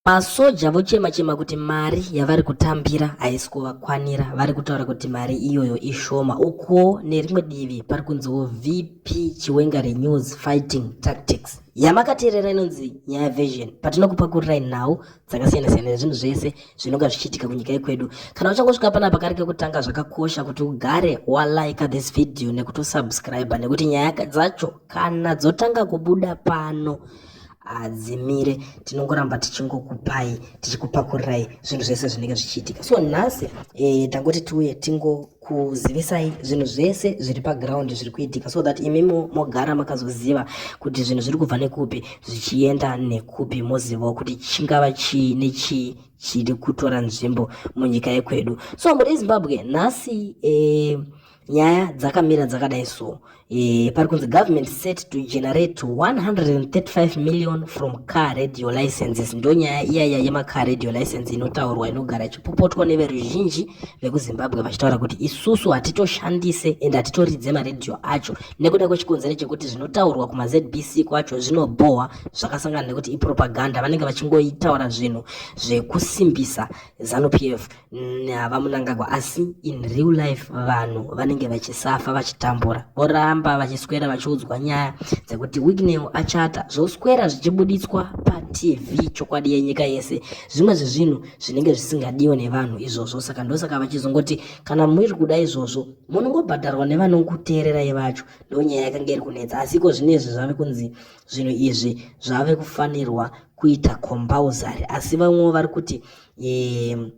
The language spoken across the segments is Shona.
Masoja vochema chema kuti mari yavari kutambira haisi kuvakwanira, vari kutaura kuti mari iyoyo ishoma. Ukuwo nerimwe divi pari kunziwo VP Chiwenga Renews Fighting Tactics. Yamakateerera inonzi Nyaya Vision. Patinokupakurirai nhau dzakasiyana-siyana nezvinhu zvese zvinonga zvichiitika kunyika yekwedu. Kana uchangosvika panapa kari kekutanga zvakakosha kuti ugare walaika this video nekutosubscribe nekuti nyaya dzacho kana dzotanga kubuda pano hadzimire tinongoramba tichingokupai tichikupakurirai zvinhu zvese zvinenge zvichiitika so nhasi e, tangoti tiuye tingokuzivisai zvinhu zvese zviri paground zviri kuitika so that imi mogara makazoziva kuti zvinhu zviri kubva nekupi zvichienda nekupi mozivawo kuti chingava chii nechii chiri kutora nzvimbo munyika yekwedu so muri zimbabwe nhasi e, nyaya dzakamira dzakadai so e, pari kunzi government set to generate 135 million from car radio licenses ndo nyaya iyaya yemacar radio license inotaurwa inogara ichipopotwa neveruzhinji vekuzimbabwe vachitaura kuti isusu hatitoshandise and hatitoridze maradio acho nekuda kwechikonzero chekuti zvinotaurwa kumazbc kwacho zvinobhohwa zvakasangana nekuti ipropaganda vanenge vachingoitaura zvinhu zvekusimbisa zanupf Mm, hava munangagwa asi in real life vanhu vanenge vachisafa vachitambura voramba vachiswera vachiudzwa nyaya dzekuti wignew achata zvoswera zvichibuditswa patv chokwadi yenyika yese zvimwe zvezvinhu zvinenge zvisingadiwe nevanhu izvozvo saka ndosaka vachizongoti kana muri kuda izvozvo munongobhadharwa nevanokuteererai vacho ndonyaya yakange iri kunetsa asi iko zvine izvi zvave kunzi zvinhu izvi zvave kufanirwa kuita compulsory asi vamwewo vari kuti um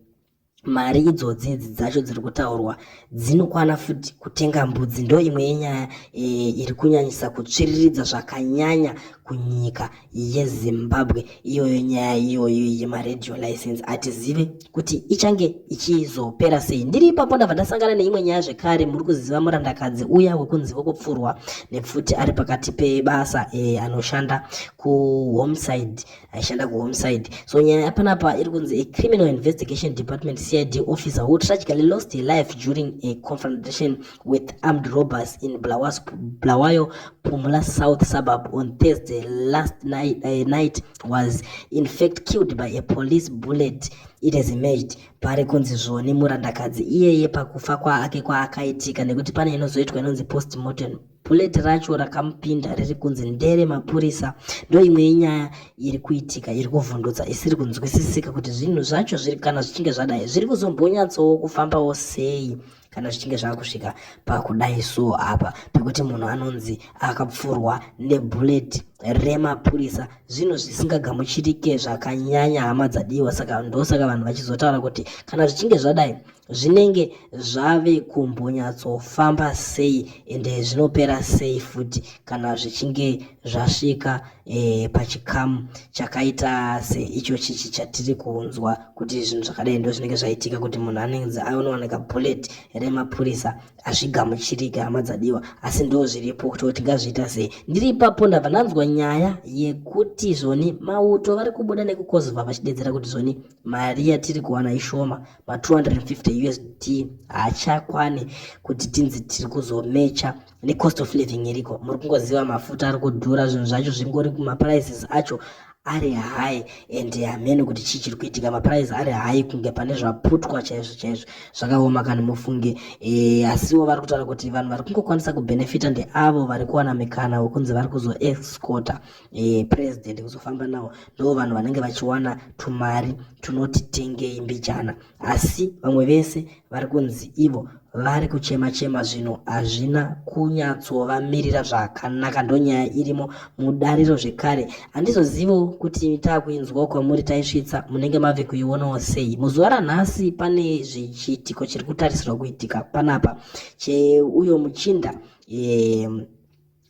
mari idzodzi idzi dzacho dziri kutaurwa dzinokwana futi kutenga mbudzi ndo imwe yenyaya eh, iri kunyanyisa kutsviriridza zvakanyanya kunyika yezimbabwe iyoyo nyaya iyoyo yemaradio license hatizive kuti ichange ichizopera sei ndiri ipapo ndabva ndasangana neimwe nyaya zvekare muri kuziva murandakadzi uya wekunzi vokupfurwa nepfuti ari pakati pebasa eh, anoshanda kuhomeside aishanda kuhomeside so nyaya yapanapa iri kunzi a criminal investigation department cid officer who tragically lost her life during a confrontation with armed robbers in Blawas, blawayo pumula south suburb on thursday last night, uh, night was in fact killed by a police bullet it has emerged pari kunzi zvoni murandakadzi iyeye pakufa kwaake kwaakaitika nekuti pane inozoitwa inonzi post mortem Bullet racho rakamupinda riri kunzi ndere mapurisa ndoimwe yenyaya iri kuitika iri kuvhundutsa isiri kunzwisisika kuti zvinhu zvacho zviri kana zvichinge zvadai zviri kuzombonyatsowo kufambawo sei kana zvichinge zvava kusvika pakudai so apa pekuti munhu anonzi akapfurwa nebullet remapurisa zvinhu zvisingagamuchirike zvakanyanya hama dzadiwa saka ndosaka vanhu vachizotaura kuti kana zvichinge zvadai zvinenge zvave kumbonyatsofamba sei and zvinopera sei futi kana zvichinge zvasvika eh, pachikamu chakaita seicho chichi chatiri kunzwa kuti zvinhu zvakadai ndo zvinenge zvaitika kuti munhu anenge aonowanika bullet remapurisa hazvigamuchirike hama dzadiwa asi ndo zviripo kuti kuti ngazviita sei ndiri ipapo ndabva ndanzwa nyaya yekuti zvoni mauto vari kubuda nekukozova vachidedzera kuti zvoni mari yatiri kuwana ishoma ma 250 usd haachakwani kuti tinzi tiri kuzomecha necost of living iriko muri kungoziva mafuta ari kudhura zvinhu zvacho zvingori maprices acho ari high and hamene kuti chii chiri kuitika maprice ari high kunge pane zvaputwa chaizvo chaizvo zvakaoma kani mufunge e, asiwo vari kutaura kuti vanhu vari kungokwanisa kubenefita ndeavo vari kuwana mikana wekunzi vari kuzoexcota e, president kuzofamba nawo ndo vanhu vanenge vachiwana tumari tunoti tengei mbijana asi vamwe vese vari kunzi ivo vari kuchema chema zvino hazvina kunyatsovamirira zvakanaka ndonyaya irimo mudariro zvekare handizozivo kuti taakuinzwawo kwamuri taisvitsa munenge mave kuionawo sei muzuva ranhasi pane zvichiitiko chiri kutarisirwa kuitika panapa cheuyo muchinda e,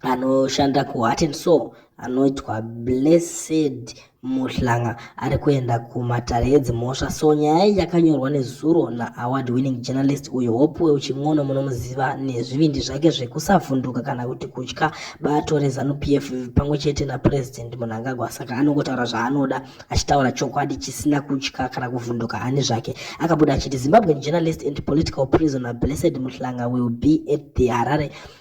anoshanda kuheart and soul anoitwa blessed muhlanga ari kuenda kumatare edzimhosva so nyaya iyi yakanyorwa nezuro naaward winning journalist uyo hope weuchin'ono munomuziva nezvivindi zvake zvekusavhunduka kana kuti kutya bato rezanup f pamwe chete napurezidendi munangagwa saka anongotaura zvaanoda achitaura chokwadi chisina kutya kana kuvhunduka ani zvake akabuda achiti zimbabwean journalist and political prisoner blessed muhlanga will be at the harare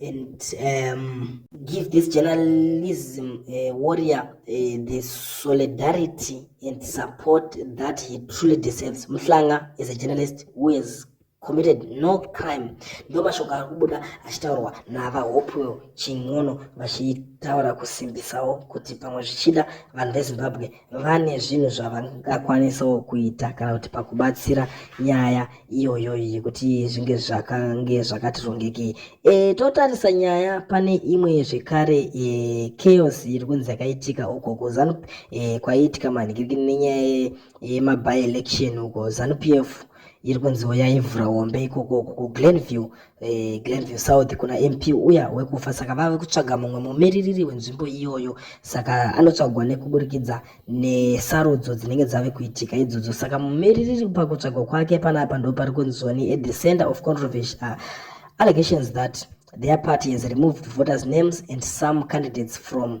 and um, give this journalism uh, warrior uh, the solidarity and support that he truly deserves. Mhlanga is a journalist who has committed no crime. Ndo mashoko ari kubuda achitaurwa naVaHopewell Chin'ono vachitaura kusimbisawo kuti pamwe zvichida vanhu veZimbabwe vane zvinhu zvavangakwanisawo kuita kana kuti pakubatsira nyaya iyoyo yekuti zvinge zvakange zvakati rongekei e, totarisa nyaya pane imwe zvekare e, chaos iri kunzi yakaitika uko kuzanup e, kwaiitika manhikirikini nenyaya yemaby election uko zanupf iri kunziwo yaivhura hombe ikoko uko kuglenview eh, Glenview South kuna MP uya wekufa saka vave kutsvaga mumwe mumiririri wenzvimbo iyoyo saka anotsvagwa nekuburikidza nesarudzo dzinenge dzave kuitika idzodzo saka mumiririri pakutsvagwa kwake panapa ndo pari kunzoni at the center of controversy uh, allegations that their party has removed voters names and some candidates from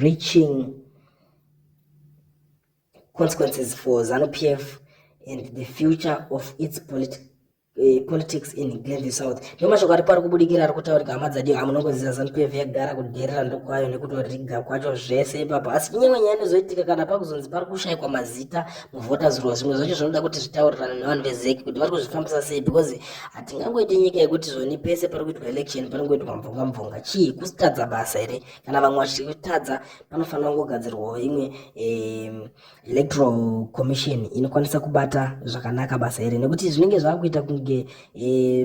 reaching consequences for ZANU PF and the future of its politi uh, politics in Glenview South. Ndio mashoko ari pari kubudikira ari kutaurika hama dzadi amunongoziva ZANU PF yagara kudherera ndokwayo nekutoriga kwacho zvese ipapo asi nyimwe nyaya inozoitika kana pakuzonzi pari kushaikwa mazita muvhota zuro zvimwe zvacho zvinoda kuti zvitaurirane nevanhu vezeki kuti vari kuzvifambisa sei because hatingangoiti nyika yekuti zvoni pese pari kuitwa election panongoitwa mvonga mvonga chii kusitadza basa here kana vamwe vachitadza panofanira kungogadzirwawo imwe electoral commission inokwanisa kubata zvakanaka basa here nekuti zvinenge zvakuita kunge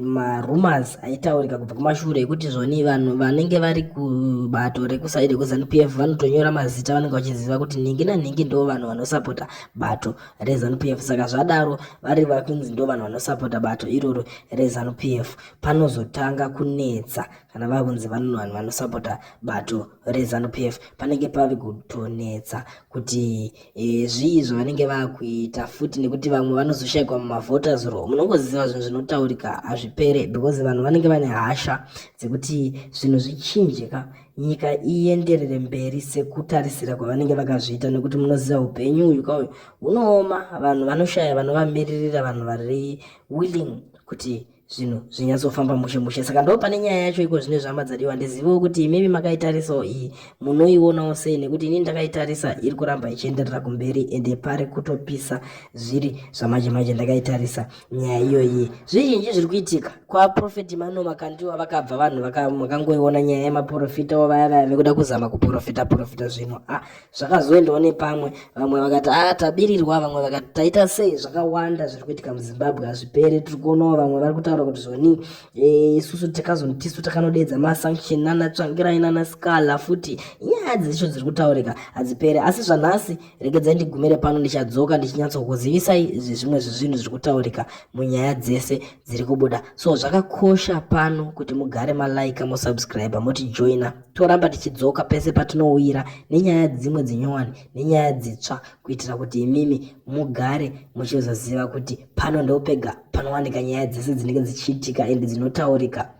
marumors aitaurika kubva kumashure ekuti zvoni vanhu vanenge vari kubato rekusaidi kuzanu p f vanotonyora mazita vanenge vachiziva kuti nhingi nanhingi ndo vanhu vanosapota bato reZanupf PF saka zvadaro vari vari kunzi ndo vanhu vanosapota bato iroro reZanupf PF panozotanga kunetsa kana vava kunzi vanhu vanhu vanosapota bato reZanupf PF panenge pave kutonetsa kuti e, zvii zvavanenge vakuita futi nekuti vamwe vanozoshaikwa mumavhoters ro munongoziva zvinhu zvinotaurika hazvipere because vanhu vanenge vane hasha dzekuti zvinhu zvichinje ka nyika ienderere mberi sekutarisira kwavanenge vakazviita nekuti munoziva upenyu uyu kauyu hunooma vanhu vanoshaya vanovamiririra vanhu vari willing kuti zvinhu zvinyatsofamba mushe mushe saka ndo pane nyaya yacho iko zvine zvama dzadiwa ndizivewo kuti imimi makaitarisawo iyi munoionawo sei nekuti ini ndakaitarisa iri kuramba ichienderera kumberi ende pari kutopisa zviri zvamanje manje ndakaitarisa nyaya iyoyi zvizhinji zviri kuitika kwaprofeti mano makandiwa vakabva vanhu vakangoiona nyaya yemaprofita wo vaya vaya vekuda kuzama kuprofita profita zvino a ah, zvakazoendawo nepamwe vamwe vakati a ah, tabirirwa vamwe vakati taita sei zvakawanda zviri kuitika muzimbabwe hazvipere tiri kuonawo vamwe vari kutaura kuti zvoni eh, isusu takazoni tisu takanodeedza masanction nana tsvangirai nana scala futi nyaya dzicho dziri kutaurika hadzipere asi zvanhasi regedzai ndigumire pano ndichadzoka ndichinyatsokuzivisai zvimwe zvezvinhu zviri kutaurika munyaya dzese dziri kubuda so zvakakosha pano kuti mugare malaika mosubscribe motijoina toramba tichidzoka pese patinouyira nenyaya dzimwe dzinyowani nenyaya dzitsva kuitira kuti imimi mugare muchizoziva kuti pano ndopega panowanika nyaya dzese dzinenge dzichiitika and dzinotaurika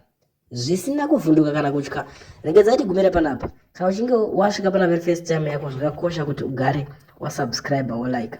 zvisina kuvhunduka kana kutya regedzai tigumire panapa kana uchinge wasvika pana very first time yako zvakakosha kuti ugare wasubscribe wolike